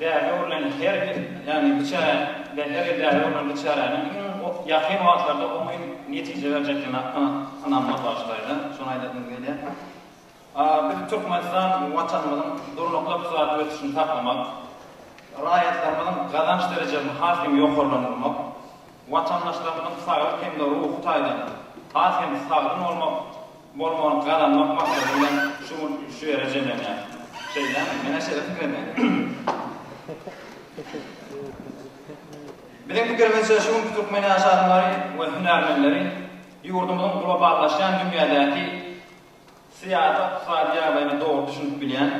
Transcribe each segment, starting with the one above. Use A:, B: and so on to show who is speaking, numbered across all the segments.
A: Bäbe urlen her bir, ýagny biçäre we her bir bäbe urlen biçäräniň iň ýakyn wagtlarda oňyn netije berjekdigine ynanmak bagşylaýda, şony aýdasymyz gelýär. Biz Türkmenistan Watanymyzyň durnukly ykdysady ösüşini saklamak, raýatlarymyzyň gazanç derejesini has hem ýokarlandyrmak, watandaşlarymyzyň saglyk hem-de ruhy taýdan has hem sagdyn bolmak Mol mol gazanmak maksady bilen şu mul şu ýere jemlenýär. Şeýdämi? Menä şeýle pikir edýän. Biziň pikirimizçe şu günki türkmen ýaşadmlary we hünärmenleri ýurdumyzyň globallaşýan dünýädäki syýasy-ykdysady ýagdaýyna dogry düşünip bilýän,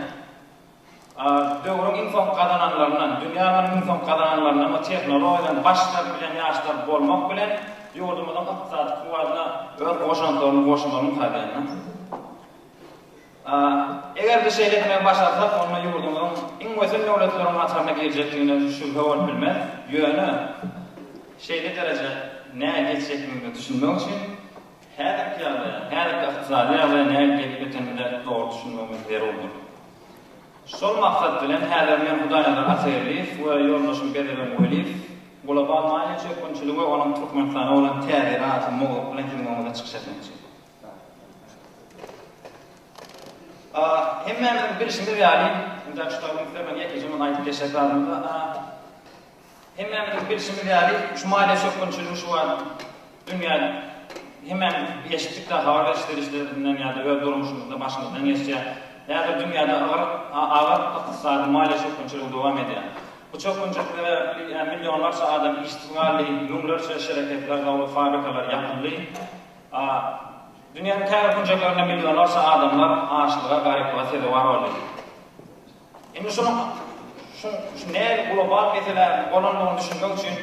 A: Döwrüň iň soňky gazananlaryndan, dünýä alynan iň soňky gazananlaryndan we tehnologiýadan baş çykaryp bilen ýaşlar bolmak bilen, ýurdumyzyň ykdysady kuwwatyna öz goşantlaryny goşmalyň taýdan. Eger-de şeýle etmegi başarsak, onda ýurdumyzyň iň wesen döwletleriň hataryna girjekdigine şübhe bolup bilmez. Ýöne şeýle derejä näge ýetjekdigimize düşünmek üçin, Häzirki ýagdaýa, häzirki ykdysady ýagdaýa nädip ýetip ýetenimize dogry düşünmegimiz zerurdyr. Şol maksat bilen häzir men Hudaýnazar Atageldiýew we ýoldaşym Berdiben Weliýew global maliýe çökgünçiligi we onuň Türkmenistana bolan täsiri atly mowzuk bilen siziň öňüňizde çykyş etmekçi. A, hemmämiziň bilşimiz ýaly, indi şu tabyň üstüne men ýekeje muny aýdyp geçjek zadym ýok. A, Hemmämiziň bilşimiz ýaly, şu maliýe çökgünçiligi şu wagt dünýäde hemmämiz eşitdikdä habar beriş serişdelerinden ýa-da öz durmuşymyzda başymyzdan geçýär. Häzir dünýäde agyr agyr ykdysady maliýe çökgünçiligi dowam edýär. Bu çökgünçilik sebäpli millionlarça adam işsiz galdy, müňlerçe şereketler, zawod, fabrikalar ýapyldy. Dünýäniň käbir künjeklerinde millionlarça adamlar açlyga, garyplyga sezewar boldy. Indi şunuň şu şu nädip global mesele bolandygyny düşünmek üçin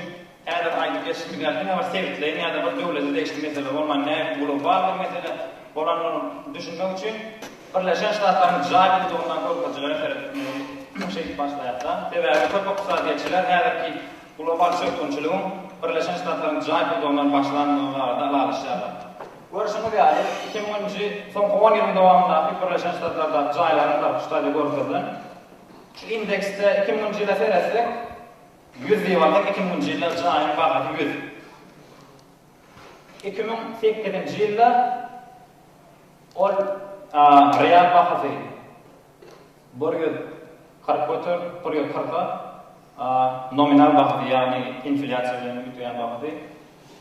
A: häzir aýdyp geçişimiz ýaly diňe bir sebitleýin ýa-da bir döwlete degişli mesele bolman nädip global bir mesele bolandygyny düşünmek üçin Birleşen Ştatlaryň jaý pudagyndaky görkezijilere seretmeli şeýdip başlaýakda. Sebäbi köp ykdysadyýetçiler häzirki global çökgünçiligiň Birleşen Ştatlaryň jaý pudagyndan başlandygy barada ylalaşýarlar. Görşüňiz ýaly, iki müň nji, soňky on ýylyň dowamyndaky Birleşen Ştatlardaky jaýlaryň basyş daly görkezilen şu indeksde iki müň nji ýyla seretsek, ýüz diýip alsak, iki müň nji ýylda jaýyň bahasy ýüz. Iki müň sekizinji ýylda ol real bahasy. Bir ýüz kyrk göter, bir ýüz kyrka, a, nominal bahasy, ýagny inflýasiýa bilen üýtgän bahasy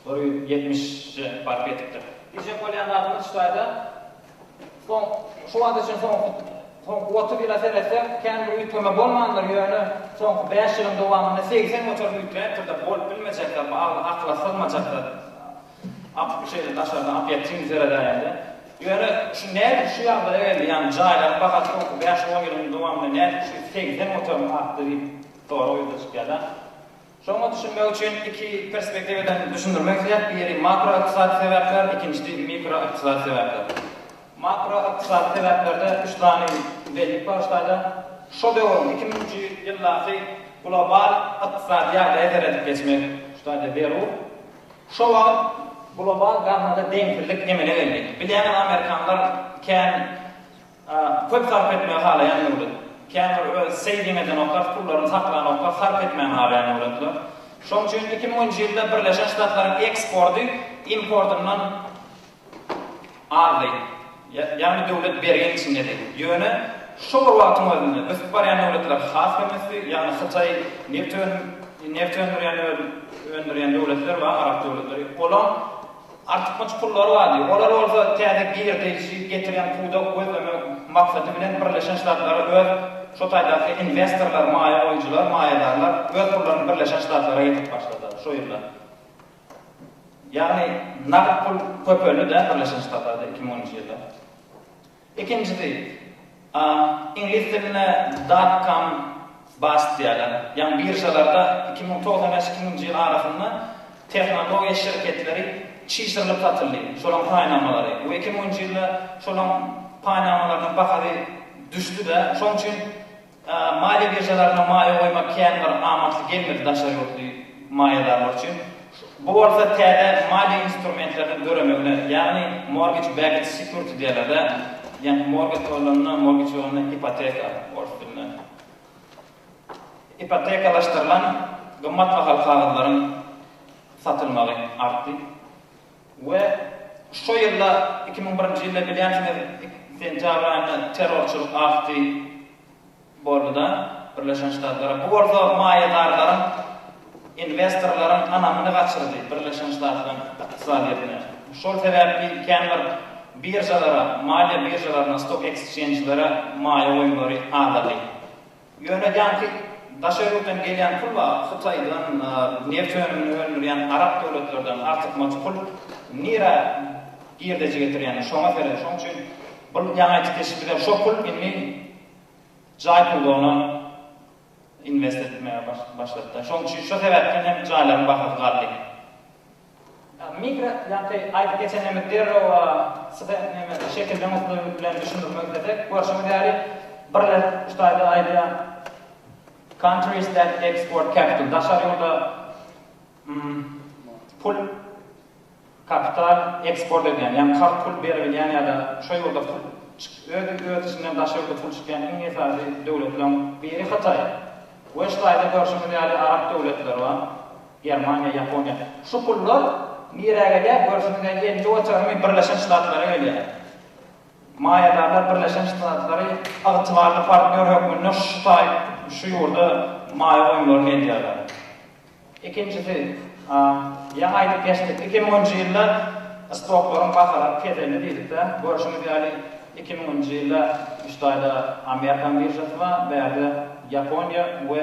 A: bir ýüz ýetmişe baryp ýetipdir. Diýjek bolýan zadym hiç taýda soň, şu wagt üçin soňky, soňky otuz ýyla seretsek, kän bir üýtgeme bolmandyr, ýöne soňky bäş ýylyň dowamynda segsen göterim üýtgäpdir-de, bolup bilmejekdir, bu agyz, akyla sygmajak zat. Apyk şeýle daşardan apyýak çyny seredäýendir. Ýöne şu nädip şu ýagdaýa geldi, ýagny jaýlaryň bahasy soňky bäş-on ýylyň dowamynda nädip şu segsen göterim artdy diýip sorag ýüze çykýar-da. Şoňa düşünmek üçin iki perspektiwadan düşündirmek isleýäris, biri makroykdysady sebäpler, ikinjisi mikroykdysady sebäpler. Makroykdysady sebäplerde üç sany bellik bar ştaýda. Şo döwrüň, iki müňünji ýyldaky global ykdysady ýagdaýa seredip geçmek ştaýda zerur. Şo wagt global gazynada deňsizlik emele geldi. Bilýäňiz, amerikanlar kän köp sarp etmegi halaýan döwlet. Kän bir öz saving edenoklar, pullaryny saklanoklar, sarp etmegini halaýan döwletler. Şonuň üçin iki müňünji ýylda Birleşen Ştatlaryň eksporty importyndan Aldy. Ýagny döwlet berginiň içindedi. Ýöne şo bir wagtyň özünde ösüp barýan döwletler has hem ösdi. Ýagny Hytaý neft önüm neft öndürýän öndürýän döwletler bar, arap döwletleri. Olaň artykmaç pullary bardy. Olar bolsa täze girdeýji getirýän pudak gözlemek maksady bilen Birleşen Ştatlara öz şo taýdaky inwestorlar, maýa goýujylar, maýadarlar öz pullaryny Birleşen Ştatlara getirip başladylar şo ýyllar. Ýagny nagt pul köpeldi-de Birleşen Ştatlarda iki müň onunjy ýylda. Ikinjisi, iňlis dilinde dot-com bust diýýärler. Ýagny biržalarda iki müň togsan bäş iki müňünji ýyl arasynda tehnologiýa şirketleri çişirilip satyldy, şolaryň paýnamalary we iki müňünji ýylda şolaryň paýnamalarynyň bahasy düşdi-de, şonuň üçin, Maliýe biržalaryna maýa goýmak kän bir amatly gelmedi daşary ýurtly maýadarlar üçin. Bu bolsa täze maliýe instrumentleriniň döremegine, ýagny mortgage backed security diýerler-dä, ýagny mortgage bolanda, mortgage bolanda ipoteka, ors dilinde, ipotekalaşdyrylan gymmat bahaly kagyzlaryň satylmagy artdy. We şo ýylda, iki müň birinji ýylda bilýänsiňiz, sentýabr aýynda terrorçylyk afty boldy-da, Birleşen Ştatlara. Bu bolsa maýadarlaryň, inwestorlaryň ynamyny gaçyrdy Birleşen Ştatlaryň ykdysadyýetine. Şol sebäpli kän bir biržalara, maliýe biržalaryna, stock exchange-lere maýa goýumlary azady. Ýöne ýaňky daşary ýurtdan gelýän pul bar, Hytaýdan neft önümini öndürýän arap döwletlerden artykmaç pul nirä girdeji getirýänini şoňa seret. Şoň üçin bu ýaňaýtjy keşbi bilen şo pul indi jaý pudagyna inwest etmäge başlady-da. Şoň üçin şo sebäpden hem jaýlaryň bahasy galdy. Mikro ýaňky aýdyp geçenlerimizi derrew size şekilden usly bilen düşündirmek islesek, görşüňiz ýaly, birler şu taýda aýdýar, Countries that export capital, daşary ýurda pul, kapital, eksport edýän, ýagny karz pul berilýän ýa-da şo ýurda pul öz içinden daşa ýurda pul çykýan iň esasy döwletleriň biri Hytaý. We şu taýda görşüňiz ýaly arap döwletleri bar. Germaniýa, Ýaponiýa. Şu pullar nirä gelýär? Görşüňizden gelip oturamy, Birleşen Ştatlara gelýär. Maýadarlar Birleşen Ştatlary ygtybarly partnýor hökmünde şu taý şu ýurda maýa goýumlaryny edýärler. Ikinjisi, ýaňy aýdyp geçdik, iki müňünji ýylda stoklaryň bahalar keselini diýdik-dä. Görşüňiz ýaly, iki müňünji ýylda şu taýda Amerikan biržasy bar, bärde Ýaponiýa we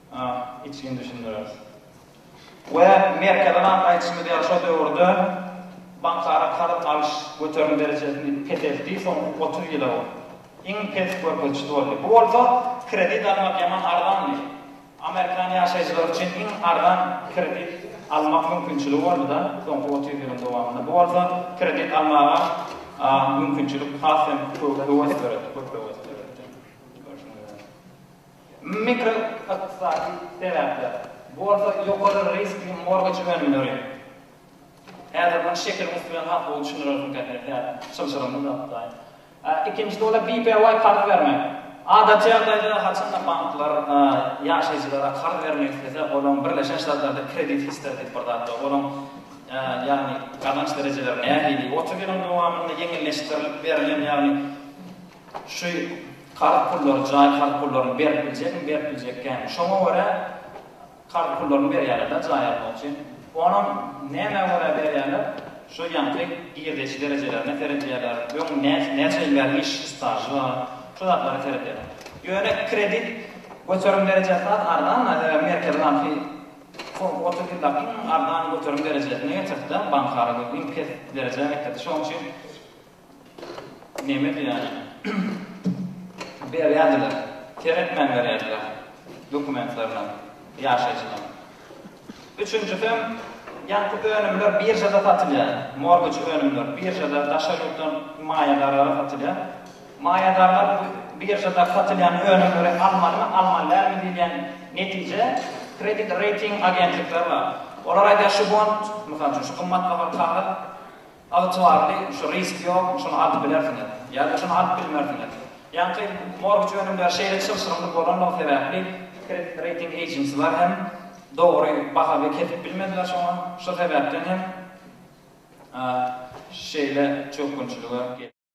A: We Merkezi bank aýdyşymyz ýaly şo döwürde bankara karz alyş göterim derejesini peseltdi, soňky otuz ýyla bu iň pes görkezijisi boldy. Bu bolsa kredit almak ýaman arzandy. Amerikan ýaşaýjylary üçin iň arzan kredit almak mümkinçiligi boldy-da soňky otuz ýylyň dowamynda. Bu bolsa kredit almaga mümkinçilik has hem höwes döretdi, köp höwes döretdi. Mikroykdysady sebäpler, bu bolsa ýokary riskli morgeç önümleri. Häzir muny şekiliň üsti bilen has gowy düşündirersiň käterik däl, çylşyrymly zat daýy. Ikinjisi bolsa BPY karz bermek. Adaty ýagdaýda haçanda banklar ýaşaýjylara karz bermek islese, olaň Birleşen Ştatlarda kredit history diýip bir zat bar. Olaň ýagny gazanç derejeleri nähili, otuz ýylyň dowamynda ýeňilleşdirilip berlen, ýagny, Şu karz pullary jaý karz pullaryny berip biljekmi, berip biljek kän. Şoňa görä karz pullaryny berýärler-de jaý almak üçin. Onam nämä görä berýärler, şu ýaňky girdeji derejelerine seredýärler, öň näçe ýyl bäri iş stažy bar, şu zatlara seredýärler. Ýöne kredit göterim derejesi has arzan-da, sebäbi Merkezi banky soňky otuz ýylda iň arzan göterim derejesine getirdi-de, bank ara iň pes derejä getirdi. Şonuň üçin. Neme diýýäni? Berýärdiler. Seretmän berýärdiler dokumentlerine ýaşaýjynyň. Üçünjisem, ýaňky önümler biržada satylýar. Morgej önümler biržada daşary ýurtdan maýadarlara satylýar. Maýadarlar bu biržada satylýan önümleri almalymy, almaly dälmi diýilýän netije kredit reýting agentlikleri bar. Olar aýdýar şu bond, mysal üçin, şu gymmat bahaly kagaz, Ygtybarly, şu risk ýokmy, şuny alyp bilersiňiz, ýa-da şuny alyp bilmersiňiz. Ýaňky mortgage önümleri şeýle çylşyrymly bolanlygy sebäpli, kredit reýting ejensiler hem dogry baha we kesip bilmediler şoňa, şo sebäpden hem şeýle çökgünçilige.